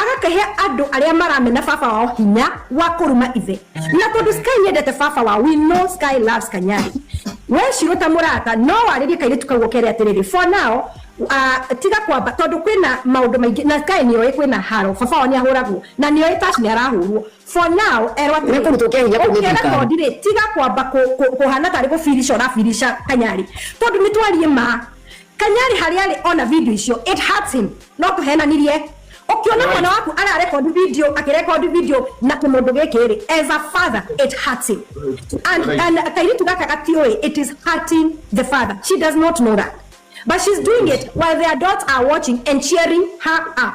Agakĩhe andũ arĩa maramena baba wao hinya wa kũruma ithe. Na tondũ Sky nĩendete baba wao, we know Sky loves Kanyari. Wee Shiro ta mũrata no warĩrie kairĩtu kau ũkere atĩrĩrĩ, for now, uh, tiga kwamba tondũ kwĩna maũndũ maingĩ na Sky nĩoĩ kwĩna haro, baba wao nĩahũragwo na nĩoĩ Tash nĩarahũrwo. For now, erwo atĩrĩrĩ, Nĩkũrutwo kĩa hinya kũu nĩ ũkĩre thirikari. Tondi rĩ, tiga kwamba kũ- kũ- kũhana tarĩ gũbirica ũrabirica Kanyari. Tondũ nĩtwarie ma, Kanyari harĩa arĩ ona video icio it hurts him no tũhenanirie ũkĩona Right. mwana waku ara record video akĩ record video na kĩmũndũ gĩkĩ rĩ as a father it hurts him and, Right. and kairitu gaka gatiũĩ it is hurting the father she does not know that but she's doing it while their adults are watching and cheering her up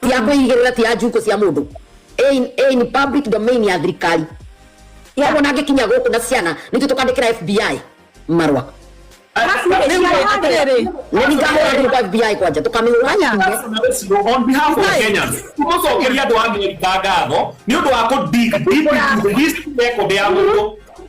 Ti ya kwĩigĩrĩra ti ya njukũ cia mũndũ ĩ in public domain ya thirikari ya ona angĩkinya gũkũ na ciana nitũ tukandikira FBI marwa FBI kwanja tukamihura on behalf of Kenyans tumacokeria andå a Amerika ngatho nä å ndå wa kå dig deep into the history record ya må ndå